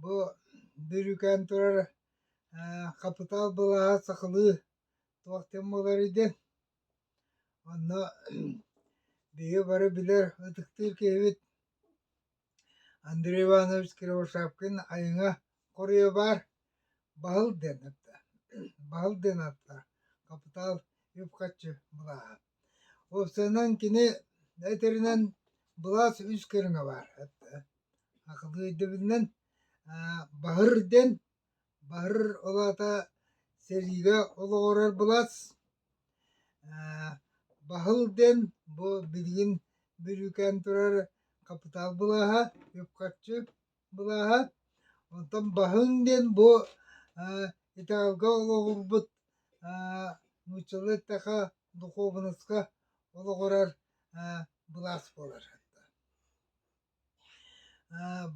Бу бүрүкээн турар хапытаал былааһа сахалыы туохтан буоларый диэн онно биһиги бары билэр ытыктыыр киһибит Андрей Иванович Кривошапкин айыҥа хоруйа баар Баһыл диэн атта Баһыл диэн аттар хапытаал үп-харчы былааһа Уопсайынан кини да этэринэн былаас үс көрүҥэ баар. Акылы өйдөбүлүнэн баһыр диэн, баһыр ол аата сэриигэ олоҕурар былаас, баһыл диэн бу билигин бүрүүкээн турар хапытаал былааһа, үп-харчы. Былааһа, онтон баһыыҥ диэн бу Италга олоҕурбут нууччалыы эттэхэ духуобунаска олоҕурар былаас буолар.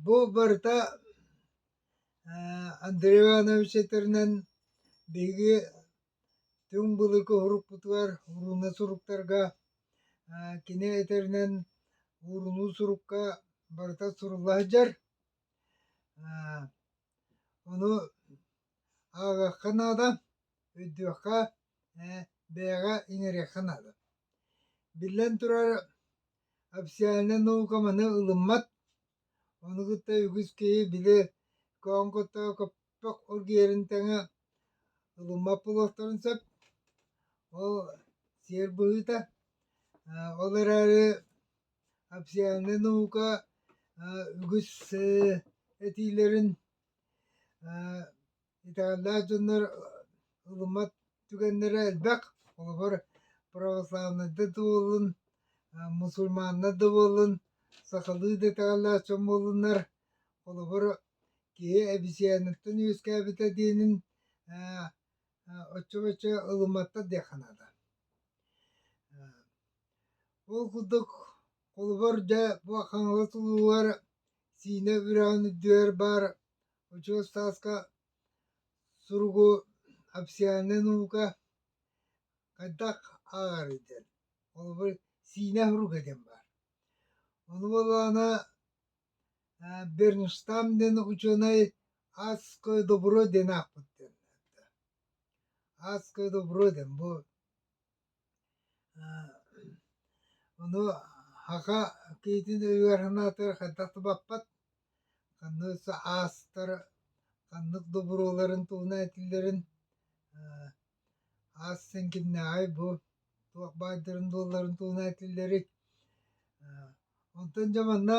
Бу барыта Андреw Иванович этэринэн биһиги Түҥ былыты урукпутугар ууруна суруктарга кини этэринэн уурунуу сурукка барыта сурулла сылдьар. Ону ааҕыахха наада, өйдүөххэ, бэйэҕэ иҥэриэххэ наада. Биллэн турар, официальнай наука маны ылыммат, ону кытта үгүс киһи били көөҥ куттаҕа Ток ол киэрин тэҥэ ылыммат буолуохтарын сөп. Ол сиэр быһыыта. Ол эрээри абсиальнай наука үгүс этиилэрин итэҕэллээх дьоннор ылыммат түгэннэрэ элбэх. Холобур, православнайда да буоллун, мусульманнар да буоллун, сахалыы да итэҕэллээх дьон буоллуннар, Холобур, киһи эбисиэниттэн үөскээбитэ диэнин ээ оччо-боччо ылымматтар диэххэ наада. Ол курдук, холобур, дьэ, бу Хаҥалас улууһугар Сиинэ үрэҕин үрдүгэр баар очуос тааска суругу Апсианнай наука хайдах ааҕарый диэн. Холобур, Сиинэ суруга диэн баар. Ону буоллаҕына Бернштам диэн учуонай «Адское добро» диэн аахпыт диэн эттэ. «Адское добро» диэн бу ону саха киһитин өйүгэр-санаатыгар хайдах тубаппат, ханнык аастар ханнык доброларын туһунан этиллэрин ас сиҥкиннээҕий бу туох баайдарын дуолларын туһуна этиллэрий онтон дьэ манна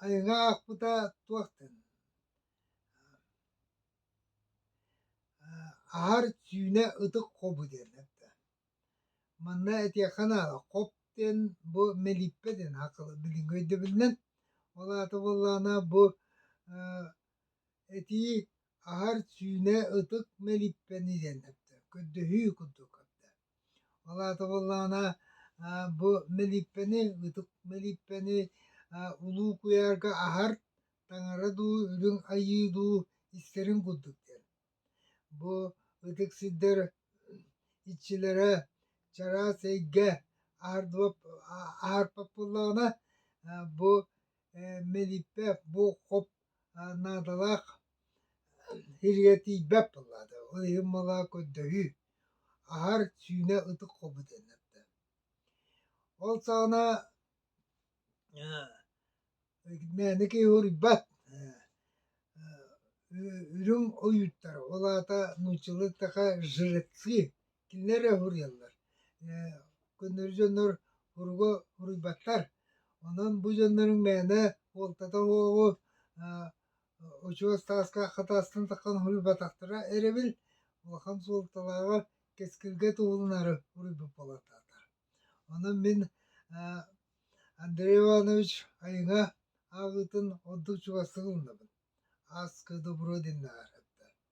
айылҕа аахпыта туохтан аһар сүүнэ ытык хобу диэн этэ манна этиэххэ наада хоп диэн бу мэлииппэ диэн билиҥҥи өйдөбүлүнэн ол аата буоллаҕына бу этии Аһар сүүнэ ытык мэлиппэн идэн эттэ, көрдөһүү курдук көрдө. Ол аата буоллаҕына бу мэлиппэни, ытык мэлиппэни улуу куйаарга аһар таҥара дуу, үрүҥ айыы дуу истэрин курдук диэн. Бу ытык сирдэр иччилэрэ чараас эйгэ аһарбаппыллаҕына бу мэлиппэ бу хоп наадалаах сиргэ тиийбэт буоллаата ол иһин мала көрдөһүү аһар сүүнэ ытык хобут эннэрдэ ол саҕана мээнэ киһи уруйбат үрүҥ ойууттар ол аата нууччалыы таха жреци кинилэр эрэ уруйаллар. Көннөрү дьоннор уругу уруйбаттар. Онон бу дьонноруҥ мээнэ уолтата уоҕу учуос тааска хатаастан таххан уруйбатахтара эрэбил улахан суолталааҕа кэскилгэ туһуланары уруйбут буолатаатар. Онон мин Андрей Иванович айыҥа ааҕыытын ордук чугастык ылынабын. Ааскы добро диннэҕэр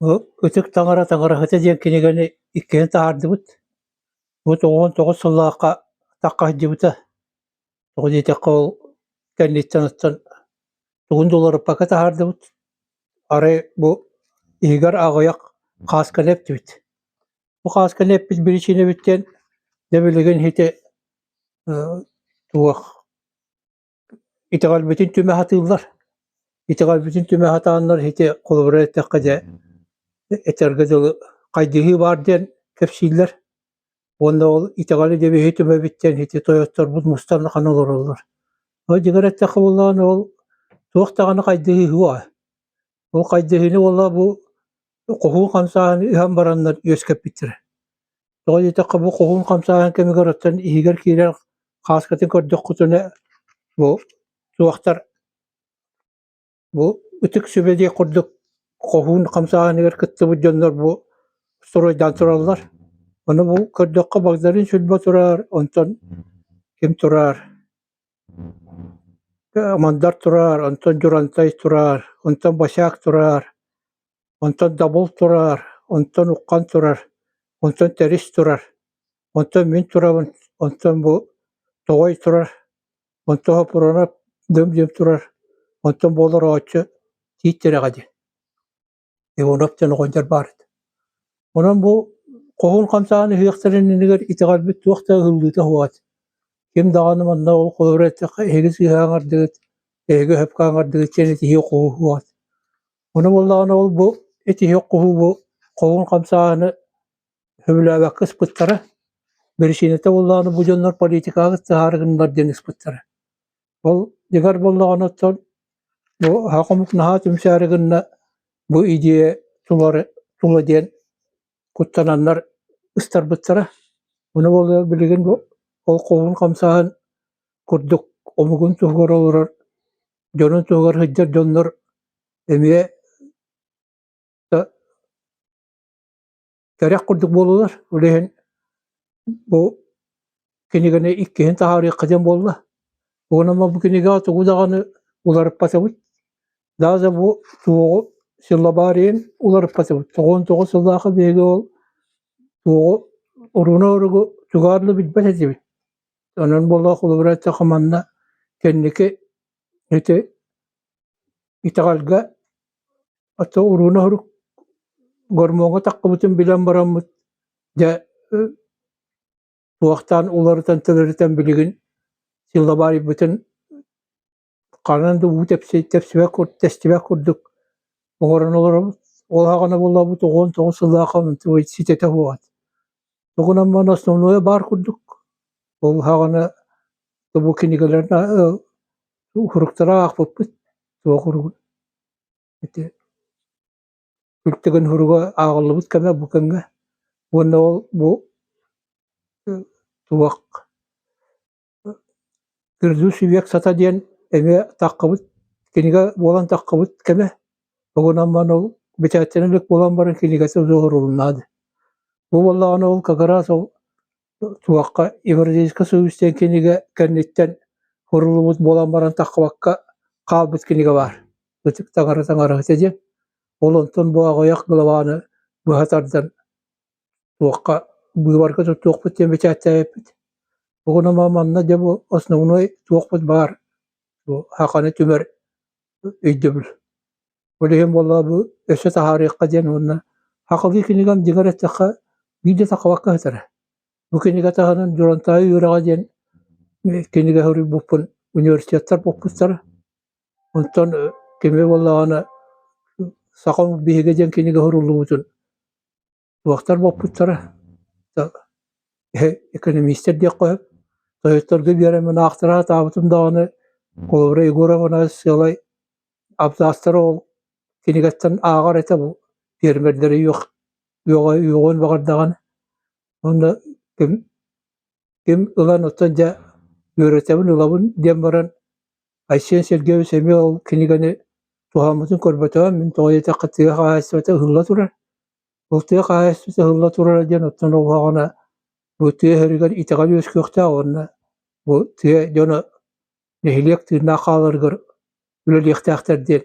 Бу Ытык таҥара таҥараһыта диэн кинигэни иккиэн таһаардыбыт. Бу тоҕуон тоҕус сыллаахха атахха сылдьыбыта. Тоҕо диэтэххэ ол кэнниттэн оттон тугун да уларыппакка таһаардыбыт. Арай бу иһигэр аҕыйах хаасканы эптибит. Бу хаасканы эппит биричиинэбиттэн, дэ билигин ити э, туох Итэҕэлбитин түмэ сатыыллар. Итэҕэлбитин түмэ сатааннар ити холобура эттэххэ дьэ этэргэ дылы хайдыһыы баар диэн кэпсииллэр. Уонна ол итэҕэли дэбиһи түмэбиттэн ити тойотторбут мустан ахан олороллор. Ол дьигэр эттэххэ буоллаҕына ол туох даҕаны хайдыһыы суоҕа. Ол хайдыһыыны уола бу хоһуун хамсааһыны иһэн бараннар үөскэппиттэрэ. Тоҕо диэтэххэ бу хоһуун хамсааһын кэмигэр оттон иһигэр киирэр хааскатын көрдөххүтүнэ бу суохтар бу ытык сүбэ диэх курдук хоһуун хамсааһыныгар кыттыбыт дьоннор бу стройдаан тураллар. Ону бу көрдөххө Багдарыын Сүлбэ тураар, онтон ким тураар, Амандар тураар, онтон Дьурантай тураар, онтон Босяк тураар, онтон Дабыл тураар, онтон Уххан турар, онтон Тэрис турар, онтон мин турабын, онтон бу Тоҕой турар, онтон Хопуруонап дым-дьым турар, онтон буолар ооччу Тиит Тирэҕэ диэн Иванов диэн оҕонньор баар этэ. Онон бу хоһуун хамсаан ыһыахтарын иннигэр итэҕэлбит туох да ыһыллыыта суоҕа. Ким даҕаны манна ол холоро эттэххэ эһиги сыыһа аҥардыгыт, эһиги өһөпкө аҥардыгыт диэн этиһиэ хоһу суоҕа. Ону буоллаҕына ол бу этиһиэх хоһу бу хоһуун хамсааһыны сөбүлээбэккэ ыспыттара, биричиинэтэ буоллаҕына бу дьоннор политикаҕыт таһаарыгыннар диэн ыспыттара. Ол дьигэр буллаҕына оттон бу аха хомук наһаа түмсээри гынна бу идея тулары тула диэн куттананнар ыстарбыттара. Ону буолуо билигин бу ол холун хамсаһан курдук омугун туһугар олорор дьонун туһугар сылдьар дьоннор эмиэ да кэрэх курдук буоллулар ол иһин бу кинигэни иккиһин таһаарыахха диэн буолла уонна бу кинигэҕэ тугу даҕаны уларыппатыбыт даже бу туоҕу силлабариен уларыппатыбыт тоҕон тоҕус сыллаахы биһиги ол туоҕу урууна оругу тугаарлы билбэт этибит онон болоох улыбырачча манна кэнники ити Итэҕэлгэ оту урууна сорук гормоҥҥа таххыбытын билэн бараммыт дьэ туохтаан уларытан төлөрүтэн билигин силабаарыйбытын ханан да уу тэпсибэт тэстибэт курдук оҥорон олоробут. Ол аһаҕана буоллабыт уон тоҕус сыллаах ситэтэ буолат. Тугунан маан основное баар курдук. Ол аһаҕана бу кинигэлэр Суруктары аахпыппыт туох уругуй ити күлтэгэн суруга ааҕыллыбыт кэмэ бу кэмҥэ уонна ол бу туох грязный век сата диэн эмиэ таххыбыт кинигэ буолан таххыбыт кэмэ тугунан мааны ол бэчээттэнэ илик буолан баран кинигэтэ суох уруһуннаады бу буоллаҕына ол как раз ол Туохха юридическай сулус диэн кинигэ кэнниттэн суруллубут буолан баран таххыбакка хаалбыт кинигэ баар. Ытык таҥара таҥара этэ диэн. Ол онтон бу аҕыйах главаны быһа тардан туохха быыбарга туттуохпут диэн бэчээттээбиппит. Бүгүн ама манна дьэ бу основной туохпут баар бу Хаханы түмэр өйдөбүл. Ол иһин буолла бу өссө таһаарыахха диэн уонна хахылыы кинигам дьиҥэр эттэххэ биирдэ такабакка сытара. Бу кинигэ таһынан Дьурантаай үөрэҕэ диэн кинигэ суруйбуппун университеттар боппуттара. Онтон кими буоллаҕына Саха биһигэ диэн кинигэ суруллубутун Туохтар буолбуттара да экономистер диэххэ сөп. Тойотторго биэрэммин аахтараа сатаабытым даҕаны, холобура Егоровна сыалай абзацтары ол кинигэттэн ааҕар этэ бу пиэрмэрдэрэ үөх үөҕэ үөҕүөн баҕардаҕына уонна ким ким ылан оттон дьэ үөрэтэбин ылабын диэн баран Айсен Сергеевич эмиэ ол кинигэни туһаммытын көрбөтөҕүм мин тоҕо диэтэххэ тыа хаһаайыстыбата ыһылла турар Ол тыа хаһаайыстыба ыһылла турара диэн оттон оҕуһаҕына бу тыа иһэригэр итэҕэл үөскүөхтээх уонна бу тыа дьоно нэһилиэк тыыннаах хааларыгар үлэлиэхтээхтэр диэн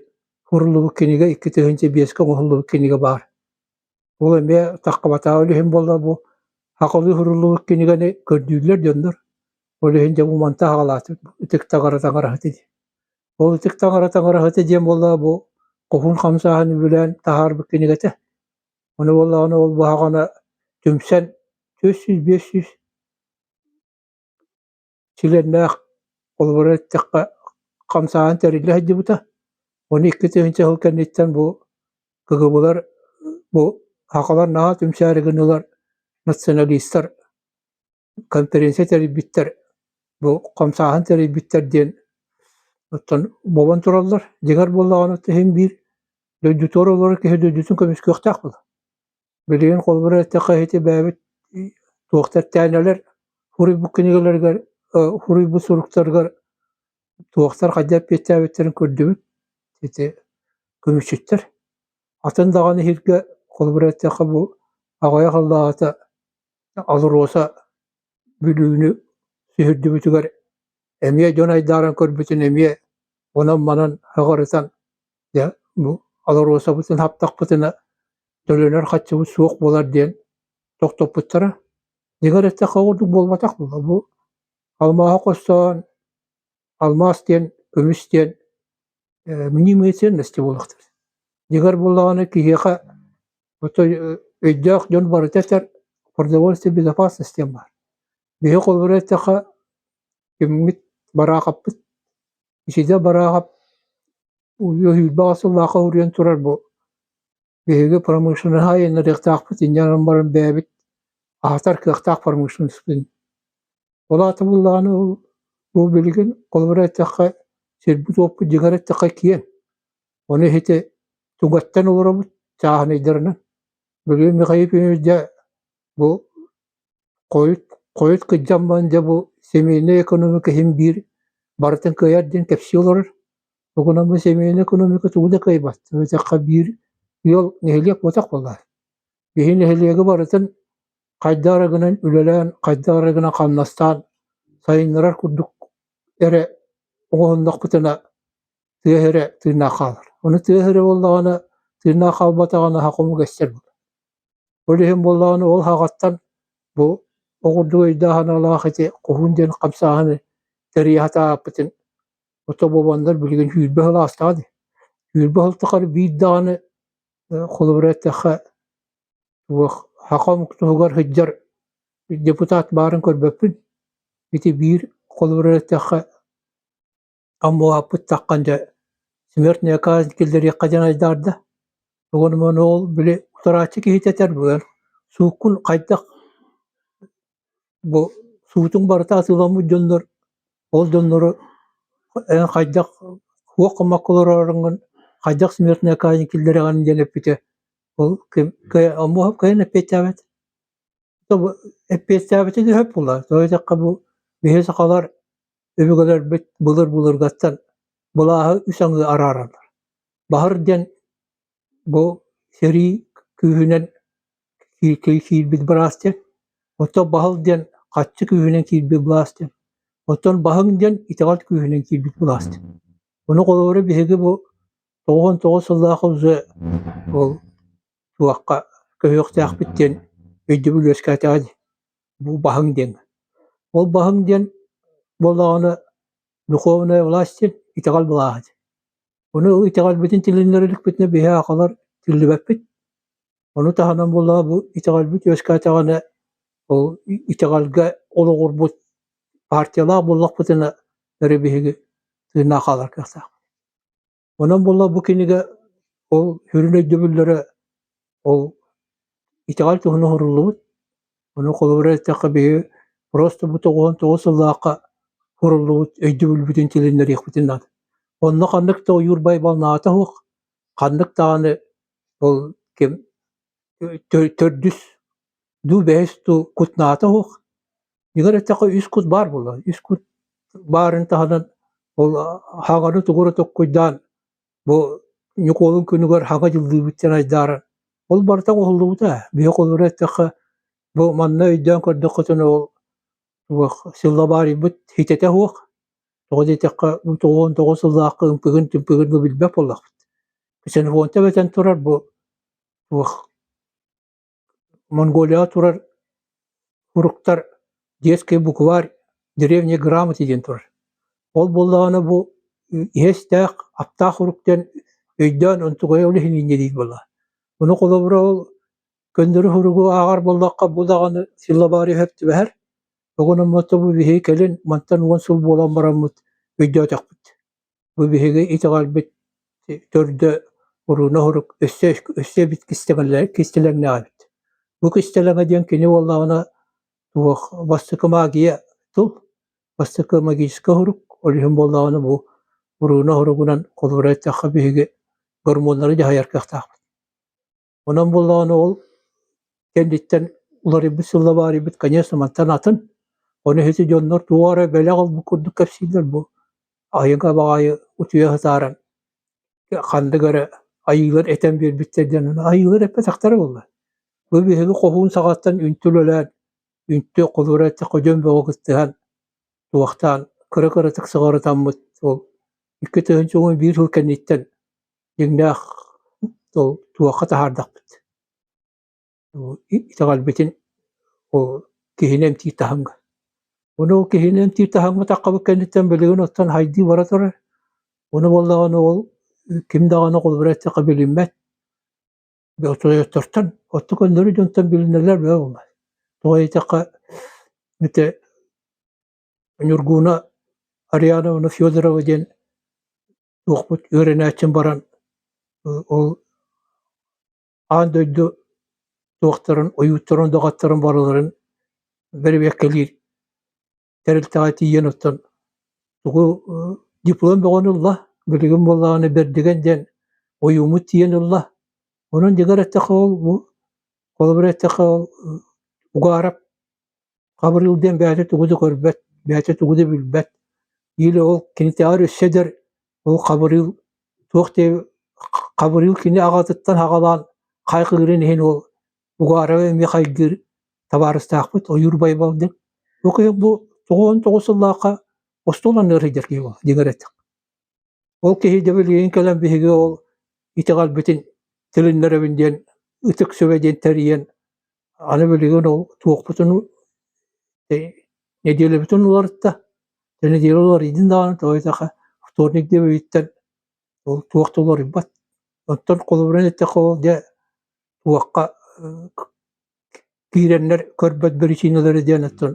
ууруллубут кинигэ икки тыһыынча биэскэ оҥоһуллубут кинигэ баар. Ол эмиэ таххабатаҕа үлүһүн буолла бу хахылыы ууруллубут кинигэни көрдүүллэр дьоннор. Ол иһин дьэ бу мантан аҕалаат ытык таҥара таҥараһыт ини Ол ытык таҥара-таҥара эһэтэ диэн буоллаҕа бу куһун хамсааһын үбүлээн таһаарбыт кинигэ этэ. Ону буоллаҕына ол быһаҕана түмсэн түөрт сүүс биэс сүүс чилиэннээх холобура эттэххэ хамсааһын тэриллэ сылдьыбыта. Ону икки тыһыынча сыл кэнниттэн бу КГБлар бу хахалар наһаа түмсээри гыннылар националистар конференция тэрийбиттэр, бу хамсааһын тэрийбиттэр диэн оттон буолан тураллар. Дьиҥэр буоллаҕына иһин биир дойдутугар олорор киһи дойдутун көмүскүөхтээх була. Билигин холобура эттэххэ ити бэйэбит туох тэттээнэлэр хуруйбут кинигэлэригэр, хуруйбут суруктарыгар туохтар хайдах эппиэттээбиттэрин көрдүбүт. Ити көмүсчүттэр. Атын даҕаны иһиргэ холобура эттэххэ бу аҕайах аллаата АЛРОСА Бүлүүнү сүһүрдүбүтүгэр эмиэ дьон айдааран көрбүтүн эмиэ онон-манан аҕарытан дьэ бу АЛРОСАбытын хаптахпытына төлөнөр харчыбыт суох буолар диэн тохтоппуттара. Дьиҥэ эттэххэ ордук буолбатах буолла бу алмааһы хостоон алмаас диэн көмүс диэн э, мнимые ценности буолахтар. Дьиҥэр буоллаҕына киһиэхэ өйдөөх дьон барыта этэр продовольствие безопасности диэн баар. Биһи холобура эттэхэ, киммит бараахаппыт, ичиде бараахап үһүйбэҕэ сыллаахха уруйан турар бу биһиги промышленнаһа айаннариахтаахпыт инньэнэн баран бэйэбит аһатар кыахтаах промышленностпын. Ол аата буллаҕына бу билигин холобура эттэххэ, сирбит-уоппут дьиҥэр эттэххэ киэҥ. Ону ити тугаттан олоробут чааһынайдарынан. Бүлүү Михаил Ильич дьэ бу хойут хойут кыддьаммын дьэ бу семейный экономика иһин биир барытын кыайар диэн кэпсии олорор. Угунан бу семейный экономика тугу да кыайбат. Өтөххө биир ыал нэһилиэк буотах буолар. Биһи нэһилиэги барытын хайдаа гынан үлэлээн, хайдаа гынан хамнастаан сайыннарар курдук эрэ оҥоһуннахпытына тыаһа эрэ тыыннаах хаалар. Ону тыаһа эрэ буоллаҕына, тыыннаах хаалбатаҕына аһа хомук эстэр буолар. Ол иһин буоллаҕына ол аһаҕаттан бу оҕурдук өйдөөх аналаах ити куһун диэн хамсааһыны тэрийэ сатааппытын отобуобандар билигин сүүрбэ сыл аастаҕа дии. Сүүрбэ сыл тухары биир даҕаны холобура эттэххэ, хахомук туһугар сылдьар депутат баарын көрбөппүн. Ити биир холобура эттэххэ, Аммуһаппыттаххан дьэ смертная казнь киллэриэххэ диэн айдаарда. Тугун уман ол били утарааччы киһитэ этэр быган сууккун хайдах бу суутуҥ барыта атыыламмыт дьоннор ол дьоннору эн хайдах туох гыммакка олороргун хайдах смертная казнь киллэрэҕин диэн эппитэ ол ким Аммуһап кыайан эппиэттээбэт эппиэттээбитин өһөп була то диэтэххэ бу биһи сахалар Өбүгэлэрбит былыр-былыргаттан былааһы үс аҥыы араараллар. Баһыр диэн бу сэрии күүһүнэн киирбит былаас диэн, оттон баһыл диэн хаччы күүһүнэн киирбит былаас диэн, оттон баһыҥ диэн итэҕэл күүһүнэн киирбит былаас диэн. Ону холобура биһиги бу тоҕуон тоҕус сыллаах уже ол туохха көһүөхтээхпит диэн өйдөбүл үөскээтэҕэ дии. бу баһыҥ диэн. Ол баһыҥ диэн буоллаҕына духовная власть итэҕэл былааһыт. Ону итэҕэлбитин тилиннэр иликпитинэ биһи аахалар тиллибэппит. Ону таһынан буоллаҕа бу итэҕэлбит үөскээтэҕинэ ол итэҕэлгэ олоҕурбут партиялаах буоллахпытына өрө биһиги тыыннаах хаалар кыахтаах. Онон буолла бу кинигэ ол сүрүн өйдөбүллэрэ ол итэҕэл туһунан оһоруллубут. Ону холобура эттэххэ биһи просто бу тоҕуһун тоҕус сыллаахха хуруллубут өйдөбүлбүтүн тилиннэриэхпитин наада. Онно ханнык да ойуур байбалнаата суох, ханнык даҕаны ол ким төрдүс дуу бэһис дуу кутнаата суох, Егор эттэхэ үс кут баар буолла. Үс кут баарын таһынан ол хаҕаны тугура токкуйдаан бу Ньукуолун күнүгэр хаҕа дьыллыыбыттан айдааран ол барыта оҕоллубута. Биһик олоро эттэхэ бу манна өйдөөн көрдөххүтүнэ ол туох сыллабаарыйбыт хитэтэ суох. Тоҕо диэтэххэ бу тоҕуон тоҕус сыллаахха ымпыгын тымпыгын да билбэт буоллахпыт. Ксенофонта бэтэн турар бу туох Монголияҕа турар фруктар детский букварь древние грамоты диэн турар. Ол буоллаҕына бу иһэстээх, аптаах фрукт диэн өйдөөн онтугайа ол иһин инньэ диир буолла. Ону холобура ол көннөрү фругу ааҕар буоллахха бу даҕаны силлабаары иһэр түбэһэр. Тоҕо гынан бу биһиги кэлин мантан уон сыл буолан бараммыт өйдөөтөхпүт. Бу биһиги итэҕэлбит төрдө куруна оһурук өссө өссө эбит кистэлэҥнээҕибит. Бу кистэлэҥэ диэн кини буоллаҕына туох бастакы магия тыл, бастакы магическай оһурук, ол иһин буоллаҕына бу куруна оһуругунан холборо эттэххэ биһиги гормоннары дьаһайар кыахтаахпыт Онон буоллаҕына ол кэнниттэн уларыйбыт сылла баарыйбыт, конечно, мантан атын. Ону иһити дьоннор туох эрэ бэлэх ылбыт курдук кэпсииллэр бу айыҥа баҕайы утуйа сатааран ханнык эрэ айыылар этэн биэрбиттэр диэн айыылар эппэтэхтэрэ буолла. Бу биһиги хоһуун саҕаттан үнтү үлэлээн, үнтү холура этэ ходьон бөҕө кыттыһан, туохтаан кыра-кыратык сыҕарытаммыт ол икки тыһыынча уон биир сыл кэнниттэн дьиҥнээх ол туохха таһаардахпыт ол итэҕэлбитин ол киһини эмтиир таһымҥа ону ол киһини эмтиир таһымматаххабыт кэнниттэн билигин оттон хайдыы бара турар ону буоллаҕына ол ким даҕаны холобура эттэххэ билиммэт отчуоттартан отту көннөрү дьонтон билинэлэр бөҕө буолбат тоҕо диэтэххэ ити Ньургууна Ариановна Федорова диэн туохпут үөрэнээччим баран ол аан дойду туохтарын ойууттарын доҕотторун барыларын бэрэбиэркэлиир тэрилтэҕэ тиийэн оттон тугу диплом бөҕөнү ылла билигин буоллаҕына бэрдигэн диэн ойууммут тиийэн ылла онон дьигэр эттэххэ ол бу холобура эттэххэ ол угаарап Хабырыыл диэн бэйэтэ тугу да көрбөт, бэйэтэ тугу да билбэт. Или ол кинитэҕэр өссө эдэр ол хабырыыл туох диэ хабырыыл кини аҕатыттан аҕалаан хайҕыырын иһин ол Угаарова эмиэ хайгыыр табаарыстаахпыт Ойуур Байбалдин. Бу киһи бу тоҕуон тоҕус сыллаахха остуолан ыарыйдар киһи буолла дигэр этим. Ол киһи дэ билигин кэлэн биһиги ол итэҕэлбитин тилиннэрэбин диэн ытык сүбэ диэн тэрийэн Аны билигин ол туохпутун нэдиэлэбитин уларытта, нэдиэлэ уларыйдын даҕаны тоҕойдохо вторник диэн бүттэр ол туох да уларыйбат. Оттон холобурун эттэххэ ол дьэ туохха киирэннэр көрбөт биричиинэлэрэ диэн оттон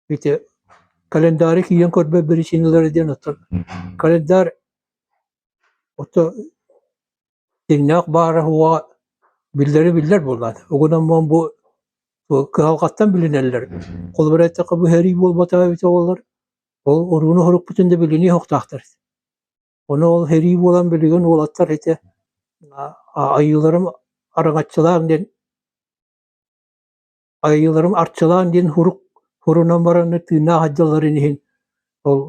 ити календаары киирэн көрбөт биричиинэлэрэ диэн оттон календарь ото дьиҥнээх баара уоҕа биллэрэ биллэр буоллаҕа угунаммын бу кыһалҕаттан билинэллэр холобура эттэххэ быһаарыы буолбатаҕа эбит оҕолор ол урууну сорукпутун да билинии оһохтоохтор ону ол сэрии буолан билигин уолаттар ити айыыларым араҥаччылааҥ диэн Айыыларым Арчылаан диэн сурук сурунан баран тыыннаах дьалларын иһин ол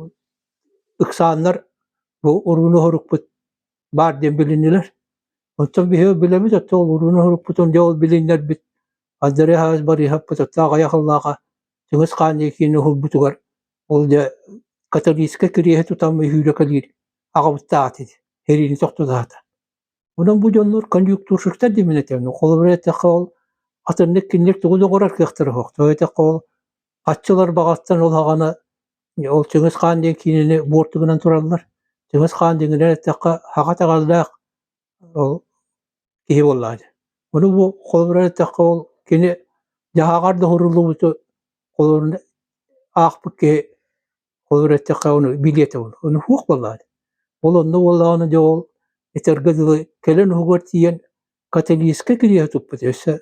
ыксааннар бу урууну сорукпут баар диэн билиннилэр. Оттон биһиги билэбит, оттон ол урууну сорукпутун дьэ ол билиннэрбит Андрей Ааһыс Борисовпут оттоох айах ыллааҕа Чыҥыс Хаан Якины уһулбутугар ол дьэ католическай кириэһи тутан үһүүрэ кэлиир аҕабыттаат ити, сэриини тохтотоото. Онон бу дьоннор конъюнктурщиктар дии мин этэбин. Холобура эттэххэ ол атыннык кинилэр тугу да оҥорор кыахтара суох. Тоҕо эттэххэ ол аччылар баҕаттан ол аҕаны ол Чыҥыс Хаан диэн киинэни буортугунан тураллар. Чыҥыс Хаан диэҥинэн эттэххэ хаҕа таҕардаах ол киһи буоллаҕа дии. Ону бу холобура эттэххэ ол кини дьаһаҕар да уһуруллубуту холобура аахпыт киһи Холобур эттэххэ, ону билиэт ол. Ону хуох буоллаҕа. Ол онно буоллаҕына дьэ ол этэргэ дылы кэлэн уһугар тиийэн каталийскай кириэһи туппут. Өссө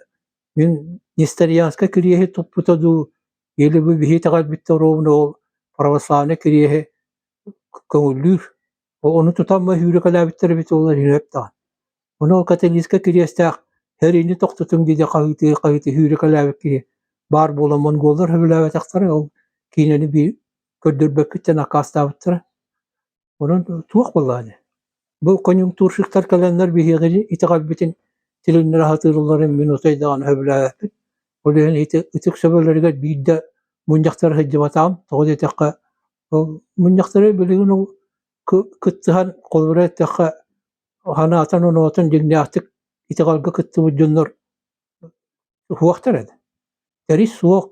мин несторянскай кириэһи туппута дуу, или бу биһи итэҕэлбит оруобуна ол православнай кириэһи көҥүллүүр. Ону тутан мөһүүрүкэлээбиттэр эбит буоллар иһиэп даҕан. Ону ол Каталиска кириэстээх «Эриини тохтутуҥ» диэни хаһыытыы-хаһыытыы үүрүкэлээбит киһи баар буолан монголлар сөбүлээбэтэхтэрэ ол киинэни би көрдөрбөккүттэн аккаастаабыттара. Онон туох буоллаҕа Бу конъюнктурщиктар кэлэннэр биһиги итэҕэлбитин тилиннэрэ сатыылларын мин отой даҕаны сөбүлээбэппин. Ол иһин ити ытык сөбүлэригэр биирдэ мунньахтара сылдьыбатаҕым, тоҕо диэтэххэ мунньахтары билигин кыттыһан холобура эттэххэ санаатын-оноотун дьиҥнээхтик итэҕэлгэ кыттыбыт дьоннор суохтар этэ тэрий суох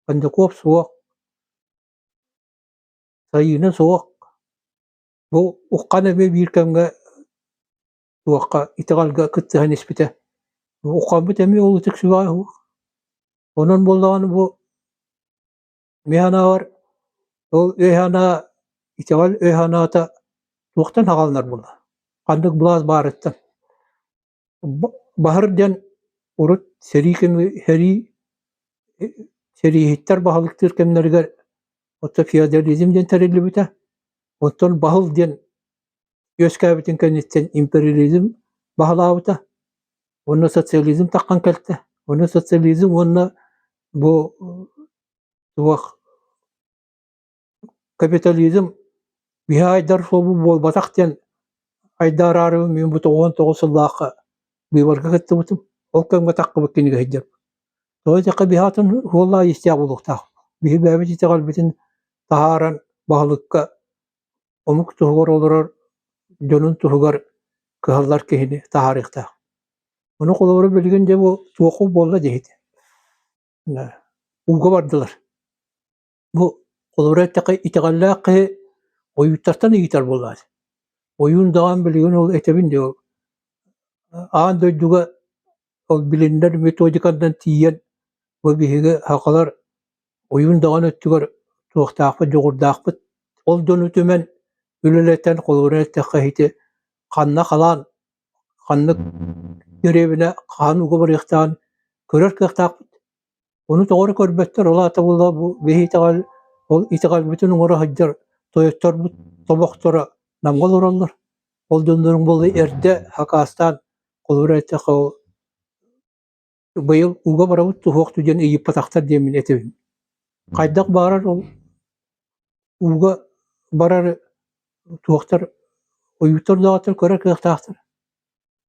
кондаков суох сайыына суох бу уххан эмиэ биир кэмҥэ туохха итэҕэлгэ кыттыһан испитэ уххаммыт эмиэ олутук сүбэҕэ уһуох онон буоллаҕына бу Миһанааҕар ол өй-санаа итэҕэл өй-санаата туохтан хаалынар буолла? Ханнык былаас баарыттан? Баһыр диэн урут сэрии кэми сэрии сэрииһиттэр баһылыктыыр кэмнэригэр оттон феодализм диэн тэриллибитэ, оттон баһыл диэн үөскээбитин кэнниттэн империализм баһылаабыта уонна социализм таххан кэлтэ уонна социализм уонна бу суох капитализм биһи айдар суобу буолбатах диэн айдаарары мин бу тоҕуон тоҕус сыллаахха быыбарга кыттыбытым ол кэмҥэ таххыбыт кинигэ сыдьар тоҕо диэххэ биһи атын суоллаа истээх буолуохтаах биһи бэйэбит итэҕэлбитин таһааран баһылыкка омук туһугар олорор дьонун туһугар кыһаллар киһини таһаарыахтаах. Ону холобура билигин дьэ бу туоху буолла диэхит. Ууга бардылар. Бу холобура эттэхэ итэҕэллээх киһи ойууттартан ыйытар буоллаат. Ойуун даҕан билигин ол этэбин диye аан дойдуга Ол билиннэр методиканнан тиийэн бу биһиги сахалар уйун даҕаны өттүгэр туохтаахпыт, дьоҕурдаахпыт. Ол дьону түмэн үлэлэтэн холобура эттэххэ ити ханна халаан ханнык дэриэбинэ хаһан уга барыахтааҕын көрөр кыахтаахпыт. Ону тоҕо эрэ көрбөттөр, ол аата була бу били итэҕэл ол итэҕэлбитин оҥоро сылдьар тойотторбут тобохторо намга олороллор. Ол дьоннорун буолла эрдэ хакаастаан холобура эттэххэ ол быйыл ууга барабыт суһуох түгэн ыйыппатахтар диэн мин этэбин. Хайдах баарар ол ууга барары туохтар ойууттар даҕатар көрө кыахтаахтар.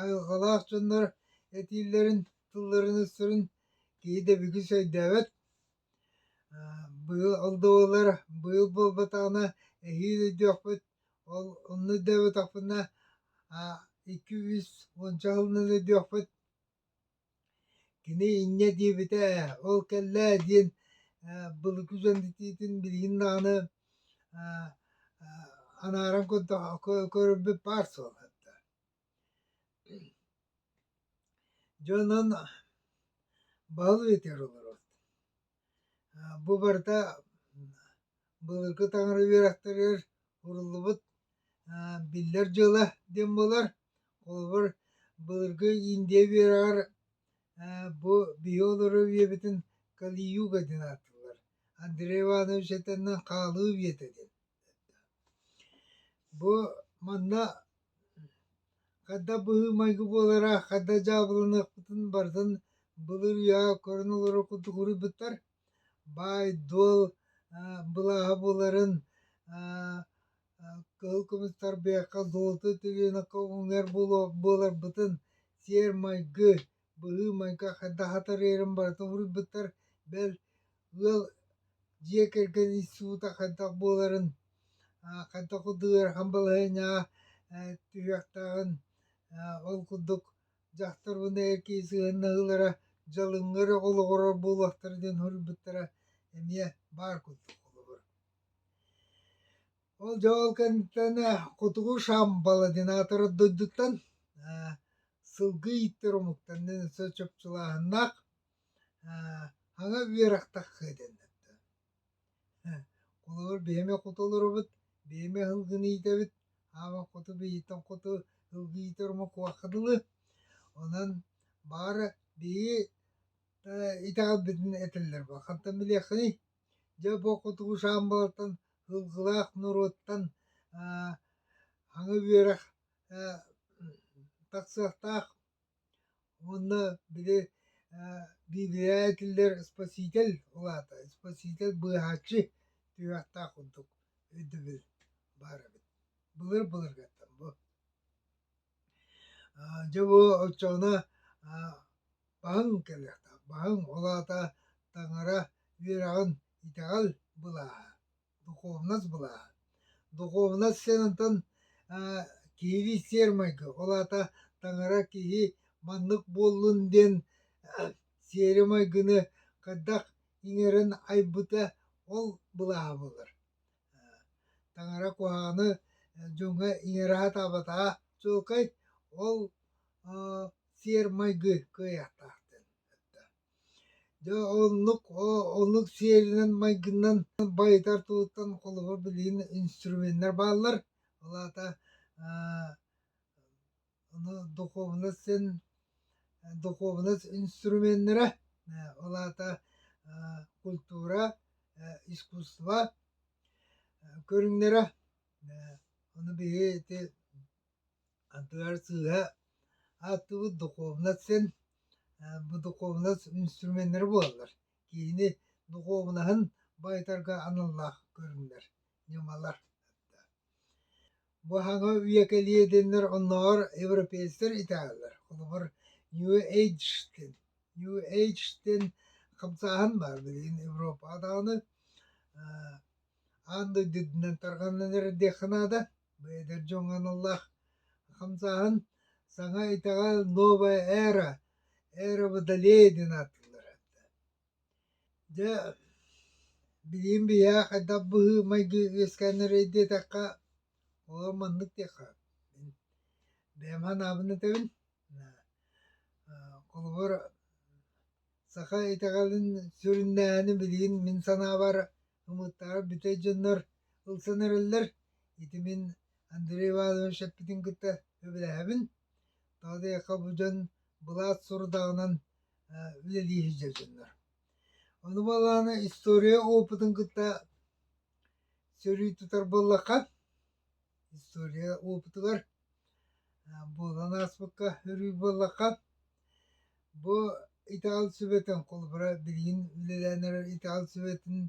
Айылҕалаах дьоннор этиилэрин, тылларын-өстөрүн киһи да бүгүс өйдөөбөт. Быйыл ол да буоллар быйыл буолбатаҕына эһиил өйдүөхпүт. Ол онно өйдөөбөтөхпүнэ икки-үс уонча сылынан өйдүөхпүт. Кини инньэ диэбитэ ээ, ол кэллэ ээ диэн ээ былыргы дьон этиитин билигин даҕаны аа аа анааран көрөрбүт баар суолтата. Дьонун баһылыы этэр олорор Бу барыта былыргы таҥара үөрэхтэригэр уруллубут биллэр дьыала диэн буолар. Холобур, былыргы Индия үөрэҕэр бу биһи олору үйэбитин Кали-юга диэн ааттыыллар. Андрей Иванович этэнинэн хаалыы үйэтэ диэн. Бу манна Хадда быһыы-майгы буолара, хадда дьаабыланыахпытын барытын былыр үйэҕэ көрөн олорор курдук уруйбуттар. Баай-дуол былааһа буоларын кыһыл кымыстар бэйэхэ золото төлөнөххө уҥуор буоларбытын, сиэр-майгы быһыы-майгы хайдах атарыйарын барыта суруйбуттар, бэл, ыал дьиэ кэргэн института хайдах буоларын, хайдах курдук ыарахан балаһыанньаҕа түһүөхтээҕин, ол курдук дьахтарбын эр киһи сыһыаннаһыылара дьалыҥҥар эрэ олоҕурар буолуохтара диэн суруйбуттара эмиэ баар курдук холобур. Ол дьол кэнниттэн Хотугу Шамбал ординатора дойдуттан сылгы ииттэр омуктан өссө чопчулааһыннаах аҥа үөрэхтэх дэннэрдэ. Холобур биһиэхэ хоту олоробут, биһиэхэ сылгыны иитэбит, аама хоту биһиттэн хоту сылгы иитэр омук куһаҕа дылы. Онон бары биһиги итэҕэлбитин этэллэр бу. Хантан билиэххиний? Дьэ бу кутугушаан буолтан һылгылаах норуоттан аа аҥы үөрэх ээ тахсыахтаах уонна били ээ биибиһэ киллэр испэсиитэл улаата испэсиитэл быыһааччы түһүөхтээх курдук өйдөбүл баар эбит былыр былыргаттан бу Дьэ бу оччоҕуна баһыҥ кэлиэхтээх, баһыҥ, ол аата таҥара үөрэҕин итэҕэл былааһа, духовность былааһа. Духовность сиэн онтон киһилии сиэр-майгы, ол аата таҥара киһи маннык буоллун диэн сиэри-майгыны хайдах иҥэрэн айбыта ол былааһа буолар. таҥара куһаҕаны дьоҥҥо иҥэрэһэ-таабатаҕа чуолкай ол сиэр-майгы кыайыахтаахтын дьэ оннук оннук сиэринэн майгыннан байытар тылыттан холобур билигин инструменнар бааллар ол аата духуобунас син духуобунас инструменнара ол аата культура искусство көрүҥнэрэ ону биһи ити ардыгар сыыһа ааттыыбыт духуобунас син бу духуобунас инструменнэрэ буолаллар киһини духуобунаһын байытарга аналлаах көрүҥнэр ньымалар Бу аһаҕа үйэ кэлиэдиннэр оннооҕор европейецтар итэҕэллэр, холобур, New Age-тэн New Age-тэн хамсааһын баар билигин Европаҕа даҕаны аан дойду үрдүнэн тарҕанан эрэр диэххэ наада. Бу эдэр дьоҥҥо аналлаах хамсааһын. Саҥа итэҕэл Новая Era, Эра Водолея диэн ааттыыллар. Дьэ, билигин биһиэхэ хайдах быһыы-майгы үөскээннэрэй диэтэххэ, оо, маннык диэххэ, мин бэйэм анаабын этэбин, холобур, саха итэҕэлин сүрүннээһини билигин мин санаабар ымыыттаабат бүтэй дьоннор ылсан эрэллэр. Ити мин Андрей Иванович эппитин кытта сөбүлэһэбин. Тоҕо диэтэххэ, бу дьон былаат сорудаҕынан үлэлии сылдьар дьоннор. Ону буоллаҕына история опытын кытта сөрүү тутар буоллахха, история опытыгар буолан ааспыкка өрүү буоллахха, бу итэҕэл сүбэтин холобура билигин үлэлээн эрэр итэҕэл сүбэтин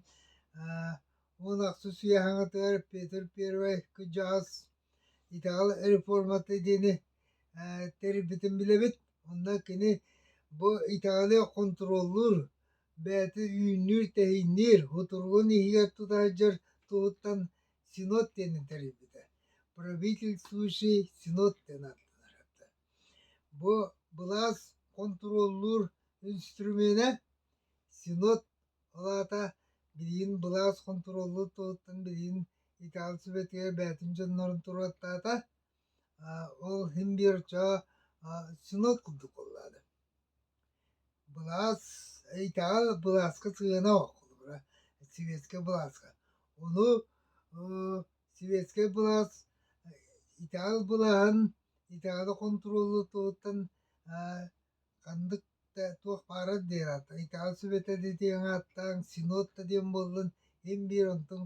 уон ахсыс үйэ аҥатыгар Петр Первый кыдьаҕас Итэҕэл реформата диэни ээ тэрийбитин билэбит. Онно кини бу итэҕэли хонтуруоллуур, бэйэтэ үүннүүр-тэһиинниир, утуругун иһигэр тута сылдьар туһуттан синод диэни тэрийбитэ. Правительствующий синод диэн ааттанара. Бу былаас хонтуруоллуур инструмена синод, ол аата билигин былаас хонтуруоллуур туһуттан билигин Италия Советыгар бэйэтин дьоннорун туруортаата. Ол иһин биир оччо сыныл курдук буоллаада. Былаас, Италия былааска сыана оллубура, советскай былааска. Ону советскай былаас Италия былаһын Италия контроллутуттан Ханнык да туох баарар диэри Италия Сүбэтэ диэн ааттаан синод да диэн буоллун ин биир онтун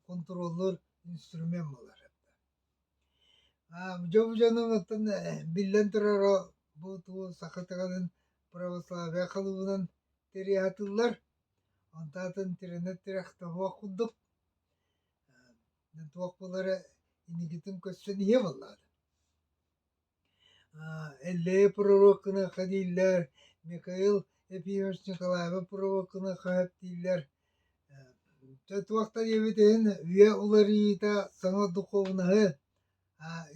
хонтуруоллуур инструмент буолар это дьон дьонун оттон биллэн турара бу тугу саха тыгынын православие кылыбынан тириэхатыллар онтаатын тирэнэр тирэх тоһуох курдук туох булары инигитин көрсөн иһэ буоллаҕа Эллэйи провоккыныахха дииллэр, Михаил Епимович Николаевы провоккыныахха сөп дииллэр. туох да диэбит иһин үйэ уларыйыыта саҥа духуобунаһы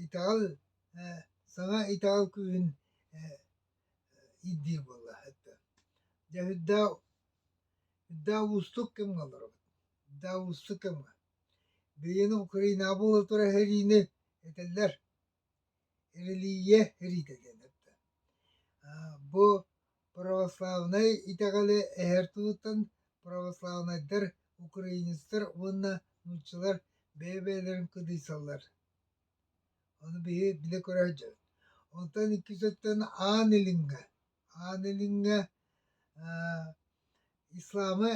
итэҕэл саҥа итэҕэл күүһүн ирдиир буолла дьэ үрдэ үрдэ уустук кэмҥэ олоробут үрдэ уустук кэмҥэ билигин Украинаҕа буола турар сэриини этэллэр Эрэлийиэ Рита диэн эттэ Бу православнай итэҕэли эһэр тылыттан православнайдар, украинецтар уонна нууччалар бэйэ-бэйэлэрин кыдыйсаллар Ону биһи билэ көрө сылдьабыт Онтон икки сөптөн аан илиҥҥэ аан илиҥҥэ исламы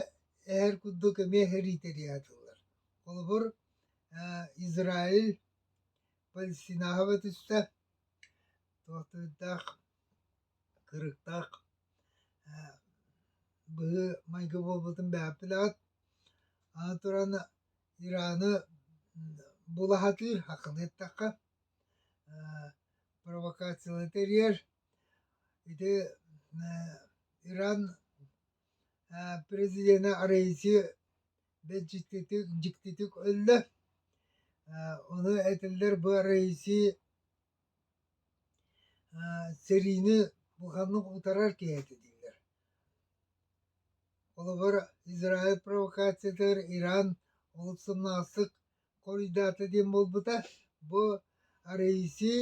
эһэр курдук эмиэ эритэри аатыыллар Холобур Израиль Пансионаһы түстэ, туохтуурдаах, кырыктаах быһыы майгы буолбутун бэйэҕит билэҕит. Аны туран Ираны була сатыыр, хахханы эттэххэ, провокациялары тэрийэр. Ити Иран президенэ арайси Бэрдьиктик, дьиктитик өллө. Ону этэллэр бу Раиси сэриини буханнык утарар киһи этэ дииллэр. Холобур, Израиль провокациятыгар Иран олус сымнаҕастык хоруйдаата диэн буолбута. Бу Раиси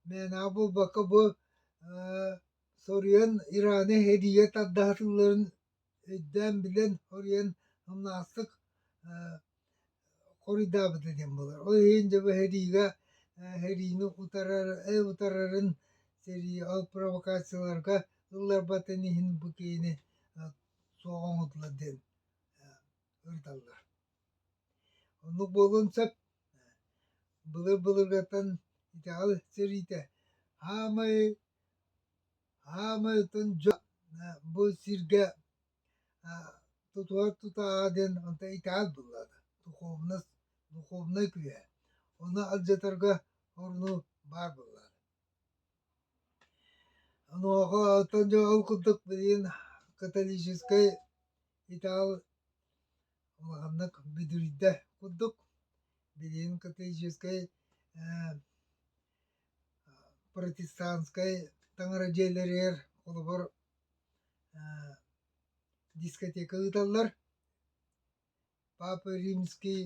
мээнэҕэ буолбакка бу соруйан Ираны эһидийэ тардаһытыыларын өйдөөн билэн хоруйан умнаахтык хоруйдаабыта диэн буолар. Ол иһин дьэ бу сэриигэ сэриини утарарын сэрии ол провокацияларга ылларбатын иһин бу киһини суох оҥотулар диэн ырыталлар. Оннук буолуон сөп. Былыр-былыргаттан итэҕэл сэриитэ хаамай Хаамыытын дьон бу сиргэ тутуһар тутааҕа диэн онто итаал буолла да духуобунас духуобунай күһэ ону алдьатарга орну баар буолла онуоха оттон дьэ ол курдук билигин католическай итаал улаханнык бүдүрүйдэ курдук билигин католическай протестанскай таҥара дьиэлэригэр холобур дискотека ыыталлар папа римский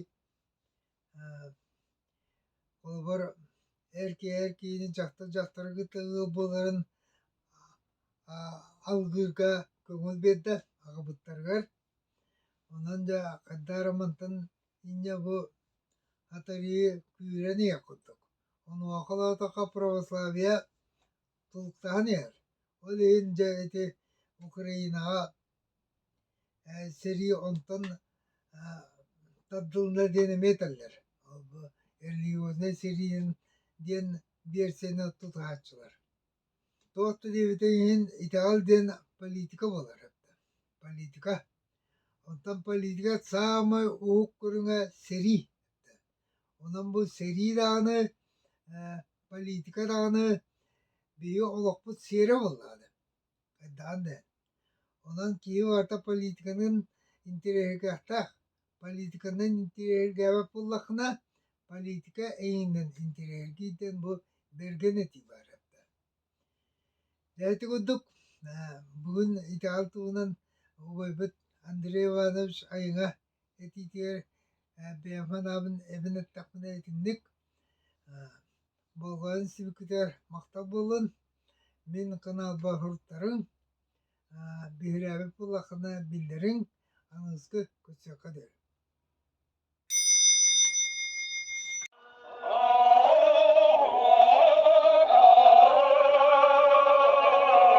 холобур эр киһи эр киһини дьахтар дьахтары кытта ыал буоларын алгыырга көҥүл биэрдэ аҕабыттарыгар онон дьэ хайдах эрэ мантан Инньэ бу атарыы күүрэн иһиэх курдук. Онуоха-лоотохо православие тулктаһан иһэр. Ол иһин дьэ ити Украинаҕа э, сэрии онтон э, тардылына диэн эмиэ этэллэр. Религиознай сэриин диэн биэрсиэни тутуһааччылар. Туох да диэбитин иһин итэҕэл диэн политика буолар эбитэ. Политика. Онтон политика саамай уһук көрүҥэ сэрии этэ. Онон бу сэрии даҕаны, э, политика даҕаны биһиги олохпут сиэрэ буоллаҕа да. Хайдаҕын да. Онон киһи барыта политиканын интэриэһиргэхтээх. Политиканан интириэргээбэт буоллаххына, политика эйинэн интириэргии диэн бу бэргэн этии баарыттан. Дээти курдук, бүгүн итэҕэл туһунан убайбыт Андрей Иванович айыҥа этиитигэр бэйэм анаабын эбэн эттэхпинэ итинник болҕойон сибикитигэр махтал буоллун. Мин каналбар биһирээбит буоллаххына биллэриҥ аныгыскы кыччакка диэри